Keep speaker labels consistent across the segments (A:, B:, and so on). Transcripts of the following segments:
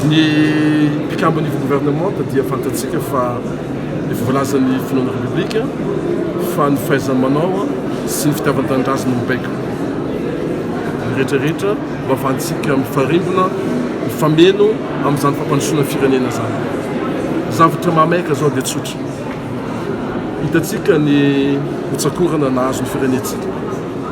A: Ny mpikambo niveau gouvernementa dia fantatsika fa efa voalazan'ny filohan'ny Repoblika fa ny fahaiza-manao sy ny fitiavan-tanindrazana no baiko. Ny rehetra rehetra no havantsika mifarimbona, mifameno amin'izany fampandrosoana ny firenena izany. Ny zavatra mahamaika izao dia tsotra. Hitantsika ny hotsakorana nahazo ny firenentsika.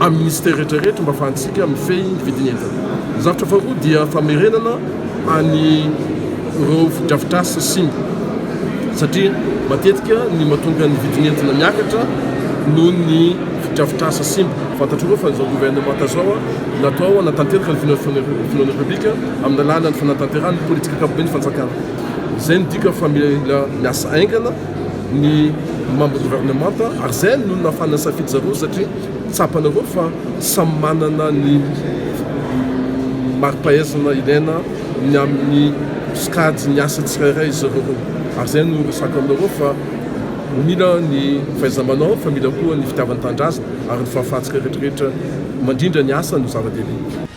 A: amin'ny Minisitera rehetra rehetra mba afahantsika mifehy ny vidin'entana. Ny zavatra faharoa dia famerenana any ireo fotodrafitrasa simba satria matetika ny mahatonga ny vidin'entana miakatra noho ny fotodrafitrasa simba. Fantatrareo fa izao governemanta izao natao hanatanteraka ny finoan'ny Repoblika amin'ny alalan'ny fanatanterahana ny politik'ankapobeny fanjakana. Izay midika fa mila miasa haingana. ny membre gouvernement ary zay no nafana safidy zareo satria tsapanareo fa samy manana ny maripahaizana ilaina ny amin'ny sokajy ny asa tsirairay izy zareo ary zay no resako aminareo fa mila ny fahaizamanao fa mila koa ny fitiavan-tanindrazana ary ny fahafahantsika rehetrarehetra mandrindra ny asa no zava-dehibe